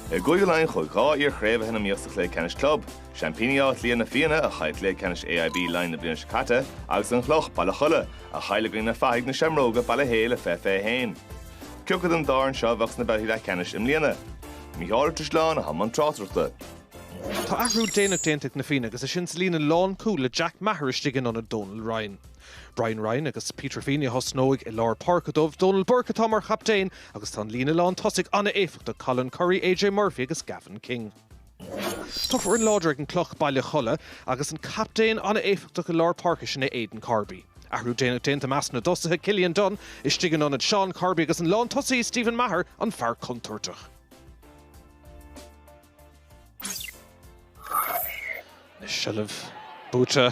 I gCúige Laighean chuaigh dhá iar-chraobhaithe na Míosa Chluiche Ceannais Club, seaimpíní Áth Cliath na Fianna a chaill Cluiche Ceannais AIB Laighean na bliana seo caite agus An Chloch, Baile Cholla, a chaill i gcoinne na fathaigh Na Seamróga, Baile Héil i 2021. Cioca den dá fhoireann seo a bheadh sna babhtaí leathceannais i mbliana? Mícheál Ó Drisleáin i mbun na tráchtaireachta. Tá athrú déanach déanta ag Na Fianna agus é sin sa líne lánchúil le Jack Maher istigh in ionad Donal Ryan. Brian Ryan agus Peter Feeney a thosnóidh i lár páirce dóibh, Dónal Burke atá mar chaptaen agus tá an líne lán tosaigh an-éifeachtach, Colin Currie, AJ Murphy agus Gavin King. Tá foireann láidir ag an gCloch, Baile Cholla agus an captaen an-éifeachtach i lár páirce sin é Aidan Corby. Athrú déanach déanta i measc na dtosaithe, Cillian Dunne istigh in ionad Seán Corby agus an lán tosaí Stephen Maher an fear contúirteach. Anois seilbh buaite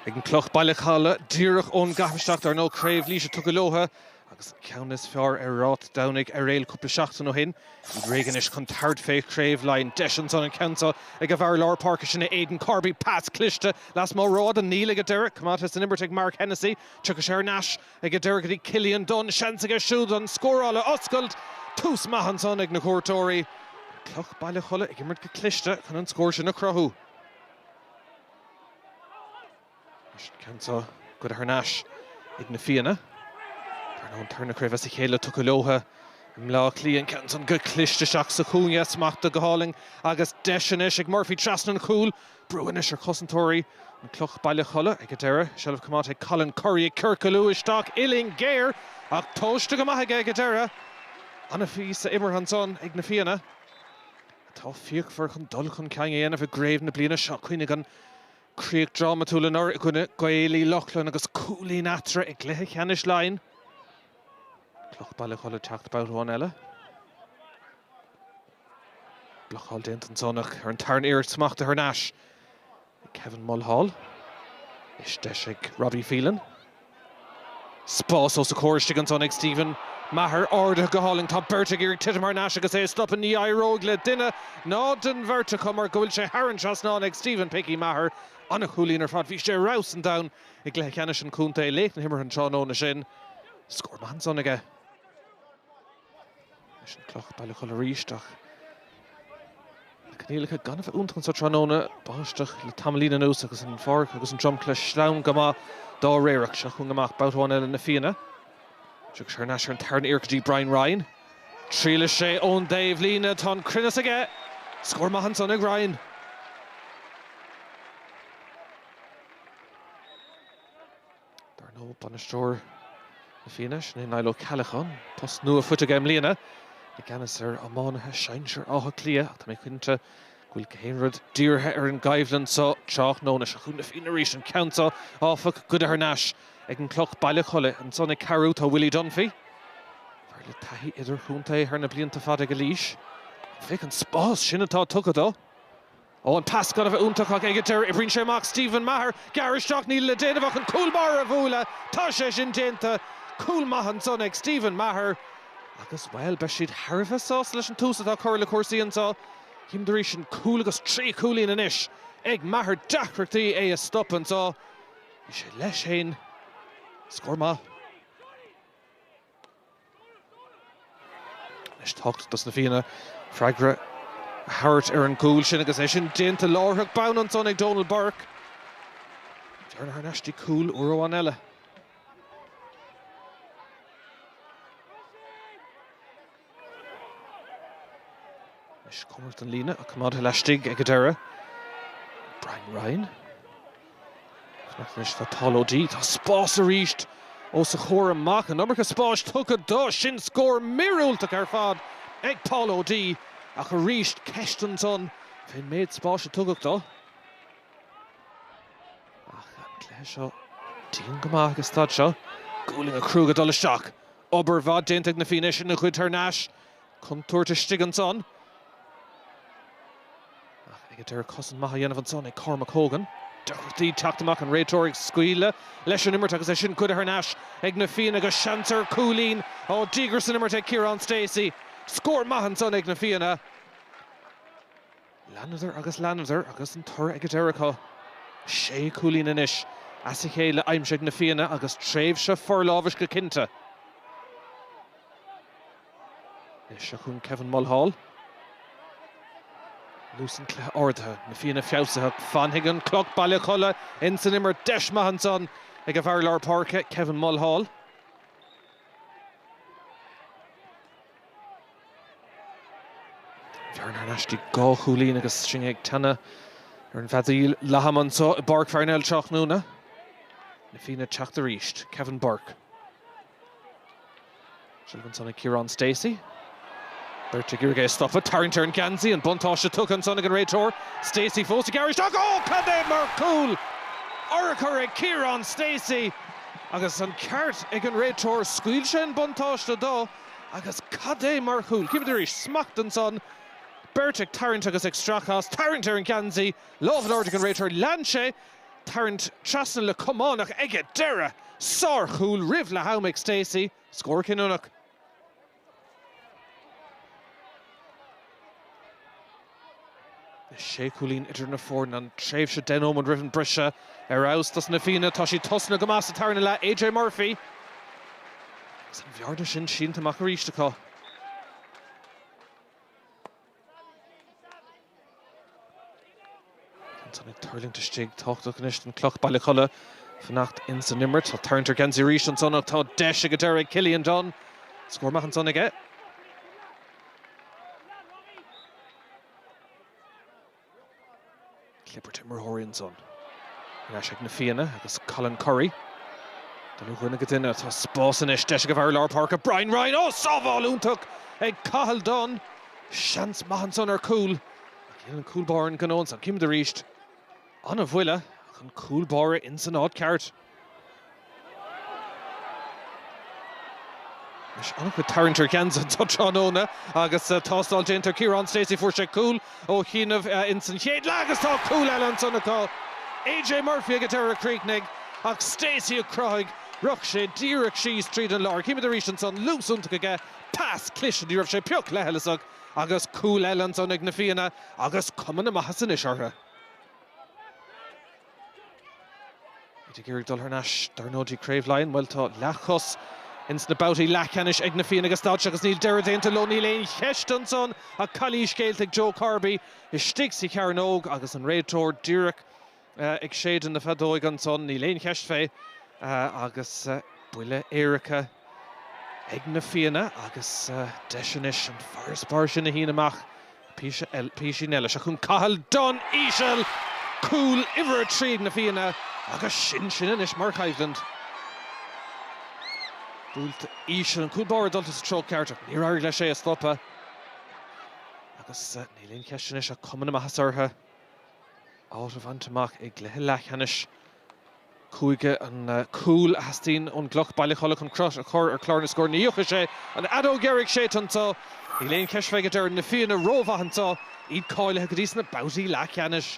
ag an Cloch Baile Cholla díreach ón gcaitheamh isteach. Dar ndóigh Craobh Laois tugtha leotha agus an ceann is fearr ar Ráth Domhnaigh Eiréil cúpla seachtain ó shin. Iad réidh anois chun tabhairt fé Chraobh Laighean. Deis ansan an ceann seo ag a bhfear lár páirce, sin é Aidan Corby. Pas cliste lasmuigh rófhada, níl ag an deireadh. Coimeádta san imirt ag Mark Hennessy. Tiocfaidh sé thar n-ais. Ag an deireadh go dtí Cillian Dunne, seans aige siúd an scóráil a oscailt. Tús maith ansan ag na cuairteoirí. Cloch, Baile Cholla ag imirt go cliste chun an scór sin a chruthú. An ceann seo curtha thar n-ais ag na Fianna. An tarna craobh as a chéile tugtha leotha i mBleá Cliath. An ceann san go cliste isteach sa chúinne. Smachta go hálainn agus deis anois ag Murphy trasna an chúil. Brú anois ar chosantóirí an Cloch Baile Cholla ag an deireadh. Seilbh coimeádta ag Colin Currie ag ciorcalú isteach uillinn géar ach tomhaiste go maith aige ag an deireadh. An-phíosa imeartha ansan ag na Fianna atá fíochmhar chun dul chun cinn a dhéanamh i gcraobh na bliana seo. Cuimhnigh an chríoch drámatúil anuraidh i gcoinne Gaeil Uí Lochlainn agus cúilín eatarthu i gcluiche ceannais Laighean. Cloch Baile Cholla teacht babhta amháin eile. Blocáil déanta ansan ach ar an tarna iarracht smachta thar n-ais ag Kevin Mulhall. Anois deis ag Robbie Phelan. Spás os a comhair istigh ansan ag Stephen Maher. Ardaithe go hálainn. Tá beirt ag iarraidh titim thar n-ais agus é a stopadh. Ní éireoidh le duine ná den bheirt acu mar go bhfuil sé thar an trasnán ag Stephen Picky Maher. An-chúilín ar fad. Bhí sé ar fheabhas an domhain i gcluiche ceannais an chontae laoch na himeartha an tráthnóna sin. Scór maith ansan aige. leis an Cloch, Baile Cholla arís ach na coinníollacha gan a bheith iontach anso tráthnóna. Báisteach le tamaillín anuas agus an pháirc agus an dromchla sleamhain go maith dá réir ach seo chugainn amach babhta amháin eile na Fianna. Tiocfaidh sé thar n-ais ar an tarna iarraidh go dtí Brian Ryan. Triailfidh sé ón dtaobh líne, tá an cruinneas aige! Scór maith ansan ag Ryan. Dar ndóigh, bainisteoir Na Fianna, sin é Niall Ó Ceallacháin, post nua faighte aige i mbliana, i gceannas ar iománaithe sinsir Átha Cliath ach tá mé cinnte go bhfuil gach aon rud dírithe ar an gcoimhlint seo tráthnóna. Seo chugainn Na Fianna arís, an ceann seo, áfach, goidte thar n-ais ag an gCloch, Baile Cholla. Ansan ag cabhrú tá Willie Dunphy, fear le taithí idirchontae thar na blianta fada ag Laois. Ach féach an spás sin atá tugtha dó! Ó an pas go hana-iontach ag an deireadh, oibríonn sé amach Stephen Maher, gearr isteach, níl le déanamh ach an cúl báire a bhualadh, tá sé sin déanta. Cúl maith ansan ag Stephen Maher agus, bhuel, beidh siad thar a bheith sásta leis an tús atá curtha le cúrsaí anseo. Cím arís ansin cúl agus trí chúilín anois ag Maher, deacrachtaí é a stop anseo. Bhí sé leis féin. Scór maith. Anois tábhachtach dos na Fianna freagra a thabhairt ar an gcúl sin agus é sin déanta, láithreach bonn ansan ag Dónal Burke. Thar n-ais dtí cúl uair amháin eile. Anois cois an líne ach coimeádta laistigh ag an deireadh, Brian Ryan. Ach anois tá Tom Cuddy, tá spás arís os a chomhair amach, an iomarca spáis tugtha dó, sin scór míorúilteach ar fad ag Tom Cuddy, ach arís ceist ansan fén méid spáis a tugadh dó. Ach an cluiche seo dian go maith ag an staid seo, gualainn chrua ag dul isteach, obair mhaith déanta ag na Fianna is í goidte thar n-ais, Contúirt istigh ansan. Ach ag an deireadh cosaint maith á dhéanamh ansan ag Cormac Hogan. Deacrachtaí teacht amach, an réiteoir ag scaoileadh leis an imirt agus é sin goidte thar n-ais ag Na Fianna agus seans ar chúilín ó dhíograis san imirt ag Ciarán Stacey. Scór maith ansan ag Na Fianna. Leanadar agus leanadar agus an toradh ag an deireadh acu. Sé chúilín anois as a chéile aimsithe ag Na Fianna agus tréimhse forlámhais go cinnte. Anois chun Kevin Mulhall. Luas an cluiche ardaithe, na Fianna feabhsaithe, ach fanfaidh an Cloch Baile Cholla ins an imirt, deis maith ansan ag an bhfear lár páirce, Kevin Mulhall. Bearna istigh go dhá chúilín agus sinn ag teannadh ar an bhfeadóig leathama anso i bPáirc Pharnell tráthnóna. Na Fianna teacht arís, Kevin Burke. Sciobtha ansan ag Ciarán Stacey. Beirt ag iarraidh é a stopadh. Tarraingt ar an ngeansaí. An buntáiste tugtha ansan ag an réiteoir. Stacey fós ag briseadh isteach. Oh! Cad é mar chúl! Urchar ag Ciarán Stacey agus an ceart ag an réiteoir. Scaoil sé an buntáiste dó agus cad é mar chúl! Chímid arís smacht ansan. Beirt ag tarraingt agus ag stracadh as. Tarraingt ar an ngeansaí. Lámh in airde ag an réiteoir. Lean sé tarraingt trasna le camánach aige, dheireadh sárchúl roimh leath-am ag Stacey, scór cinniúnach. Sé chúilín idir na foirne an tréimhse deich nóiméad roimh an mbriseadh. Ar fheabhas dos na Fianna, tá siad tosaithe go maith sa tarna leath, AJ Murphy agus an bhearna sin sínte amach arís acu. Ansan ag tuirlingt istigh, tábhachtach anois don Chloch, Baile Cholla, fanacht ins an imirt. Tá tarraingt ar gheansaí arís ansan ach tá deis ag an deireadh ag Cillian Dunne. Scór maith ansan aige. Clibirt imreoirí ansan. Ar ais ag Na Fianna agus Colin Currie. Dul ó dhuine go duine. Tá spás anois. Deis ag an bhfear lár páirce, Brian Ryan. Ó! Sábháil iontach ag Cathal Dunne. Seans maith ansan ar chúl. Déanann an cúl báire an gnó ansan. Chímid arís. Ana-bhuille ach an cúl báire insan áit ceart. An-chuid tarraingt ar gheansaithe an tráthnóna agus tástáil déanta ar Kieran Stacey. Fuair sé cúl ó chianaibh ins an chéad leath agus tá cúl eile ansan acu. AJ Murphy ag an deireadh a chríochnaigh ach Stacey a chruthaigh rith sé díreach síos tríd an lár. Chímid arís ansan luas iontach aige, pas cliste, ní raibh sé pioc leithleasach agus cúl eile ansan ag na Fianna agus cuma na maitheasa anois orthu. Iad ag iarraidh dul thar n-ais dar ndóigh go dtí Craobh Laighean. Bhuel, tá leathchos ins na babhtaí leathcheannais ag Na Fianna ag an staid seo agus níl deireadh déanta leo. Níl aon cheist ansan ach calaois déanta ag Joe Corby istigh sa chearnóg agus an réiteoir díreach ag séideadh na feadóige ansan. Níl aon cheist fé agus buille éirice ag Na Fianna agus deis anois an farasbarr sin a shíneadh amach Písín eile, seo chugainn Cathal Dunne íseal! Cúl uimhir a trí ag na Fianna agus sin sin anois mar choimhlint. Buailte íseal, an cúl báire dulta sa treo ceart ach níor éirigh leis é a stopadh agus níl aon cheist anois ach cuma na maitheasa orthu. Áit a bhaint amach i gcluiche leathcheannais. Cúige an cúl a theastaíonn ón gCloch, Baile Cholla chun cruth a chur ar chlár na scór. Anois tá an fheadóg dheiridh séidte anseo. Níl aon cheist fé ag an deireadh, na Fianna rómhaith anseo, iad cáilithe go dtí sna babhtaí leathcheannais.